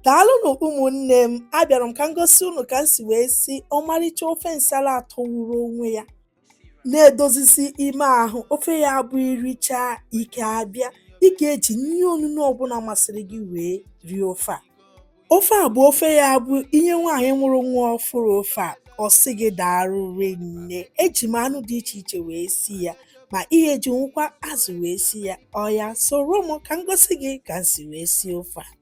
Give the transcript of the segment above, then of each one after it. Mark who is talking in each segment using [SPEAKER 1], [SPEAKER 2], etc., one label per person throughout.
[SPEAKER 1] Daalụnụ ụmụnne m, abịara m ka m gosi unu ka m si wee si ọmarịcha ofe nsala atọgburu onwe ya na-edozisi ime ahụ ofe ya bụ iricha ike abịa ị ga-eji nri onunu ọbụla masịrị gị wee rie ofe a ofe a bụ ofe ya bụ inye nwaanyị mụrụ nwa ọfụrụ ofe a ọ sị gị daalụ rinne eji m anụ dị iche iche wee si ya ma ị ga-ejinwukwa azụ wee si ya oya soro m ka m gosi gị ka m si wee sie ofe a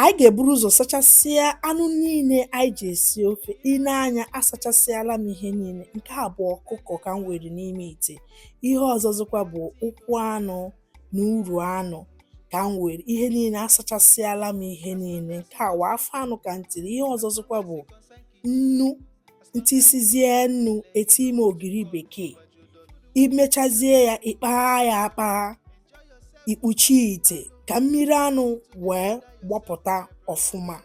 [SPEAKER 1] anyị ga-eburu ụzọ sachasịa anụ niile anyị ji esi ofe i nee anya asachasịala m ihe niile nke a bụ ọkụkọ ka m were n'ime ite ihe ọzọzikwa bụ ụkwụ anụ na uru anụ ka m were ihe niile asachasịala m ihe niile nke a wụ afọ anụ ka m tiri ihe ọzọzikwa bụ nnu m tisizie nnu eti m ogiri bekee imechazie ya ịkpagha ya akpagha ikpuchi ite ka mmiri anụ wee gbọpụta ọfụma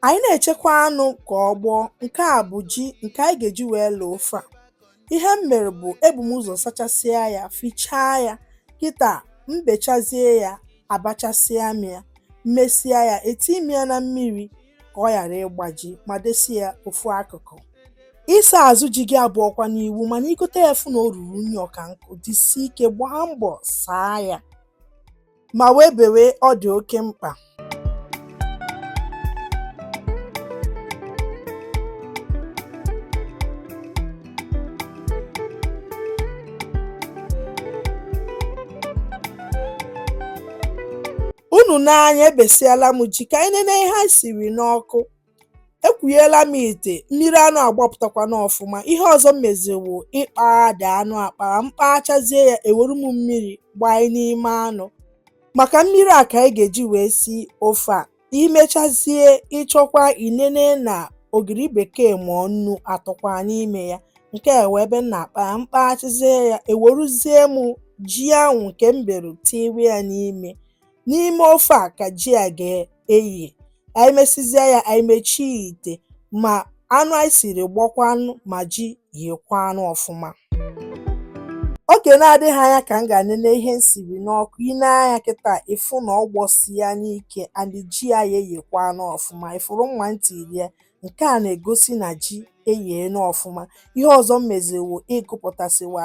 [SPEAKER 1] anyị na-echekwa anụ ka ọ gbọọ nke a bụ ji nke anyị ga-eji wee lọọ ofe a ihe m mere bụ ebu m ụzọ sachasịa ya fichaa ya kịta m bechazie ya abachasịa m ya m mesịa ya eti m ya na mmiri ka ọ ghara ịgbaji ma desi ya ofu akụkụ ịsa azụ ji gị abụọkwanụ iwu mana igote ya fụ na o ruru unyi ọka nkụ jisie ike gbaa mbọ saa ya ma wee bewe ọ dị oke mkpa unu nee anya ebesiala m ji ka anyị nene ihe anyị siri n'ọkụ ekwughela m ite mmiri anụ agbapụtakwana ọfụma ihe ọzọ m meziri wụ ịkpaghadị anụ akpagha m kpachazie ya ewere m mmiri gbanye n'ime anụ maka mmiri a ka anyị ga-eji wee si ofe a imechazie ịchọkwa inene na ogiri bekee ma ọ nnu atọkwa n'ime ya nke a wụ ebe m na-akpa ya m kpachazie ya eweruzie m ji ahụ nke m bere tiwe ya n'ime n'ime ofe a ka ji a ga-eye anyị mesizia ya anyị mechie ite ma anụ anyị siri gbakwanụ ma ji yekwanụ ọfụma oge na-adịghị anya ka m gaa nene ihe m siri n'ọkụ i nee anya kịta ịfụ na ọ gbọsiena ike and ji ya eyekwanụ ọfụma ị fụrụ mma m tiri ya nke a na-egosi na ji eyeena ọfụma ihe ọzọ m mezi wụ ịgụpụtasịwa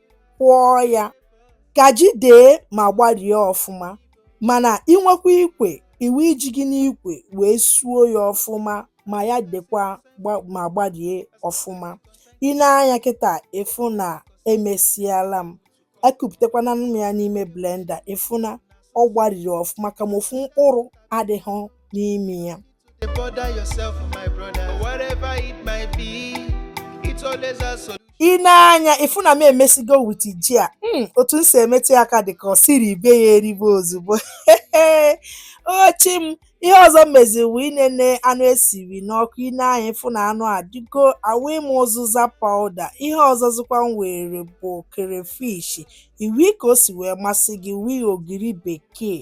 [SPEAKER 1] kwọọ ya ka ji dee ma gbarie ọfụma mana i nwekwa ikwe i wii ji gị n'ikwe wee suo ya ọfụma ma ya dekwa ma gbarie ọfụma i nee anya kịta ị fụ na emesiala m ekupụtakwana m ya n'ime blender ị fụ na ọ gbariri ọfụma kama ofu mkpụrụ adịghị n'ime ya dey bother yourself my brother whatever it might be it's always a solution i nee anya ị fụ na m emesigo wit ji a mm, otu m si emetụ ya aka dị ka ọ sị ribe ya eribe ozugbo o Chi m ihe ọzọ m meziri wụ inene anụ esiri n'ọkụ i nee anya ị fụ na anụ adịgo awụi mụ ụzụza pawuda ihe ọzọzikwa m were bụ kerefishi i wii ka o si wee masị gị wii ogiri bekee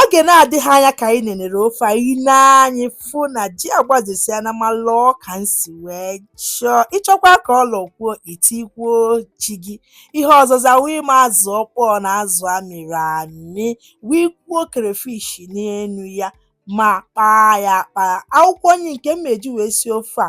[SPEAKER 1] Oge na-adịghị anya ka anyị nenere ofe a, i nee anya ị fụ na ji agbazesịana ma lọọ ka m si wee chọọ. Ị chọkwaa ka ọ lọkwuo, i tikwuo ji gị. Ihe ọzọzị awụi m azụ ọkpọọ na azụ a mịrị amị, wụkwuo crayfish n'enu ya ma kpaa ya akpaa. Akwụkwọ nri nke m ma-eji wee sie ofe a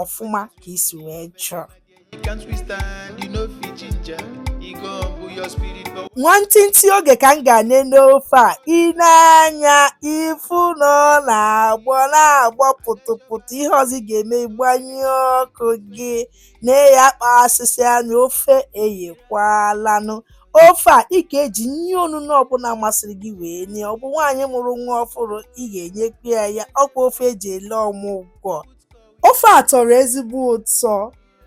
[SPEAKER 2] ọfụma
[SPEAKER 1] ka i si wee
[SPEAKER 2] chọọ nwantịntị oge ka
[SPEAKER 1] m ga-enene ofe a i nee anya ị fụ na ọ na-agbọ na-agbọ pụtụpụtụ ihe ọzọ ị ga-eme ị gbanyụọ ọkụ gị na eyi akpa asịsị anya ofe eyekwalanụ ofe a ị ga-eji nri onunu ọbụla masịrị gị wee nye ọ bụ nwaanyị mụrụ nwa ọfụrụ ị ga-enyekwa ya ya ọ kwa ofe e ji ele ọmụgwọ Ofe a tọrọ ezigbo ụtọ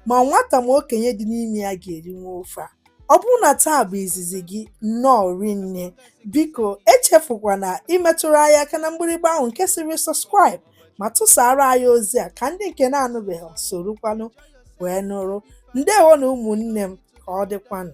[SPEAKER 1] ma nwata ma okenye dị n'ime ya ga-erinwu ofe a. Ọ bụrụ na taa bụ izizi gị, nnọọ rinne. Biko echefukwana imetụrụ anyị aka na mgbịrịgba ahụ nke sịrị subscribe ma tụsara anyị ozi a ka ndị nke na-anụbeghị sorokwanụ wee nụrụ. Ndewo nụ ụmụnne m ka ọ dịkwanụ.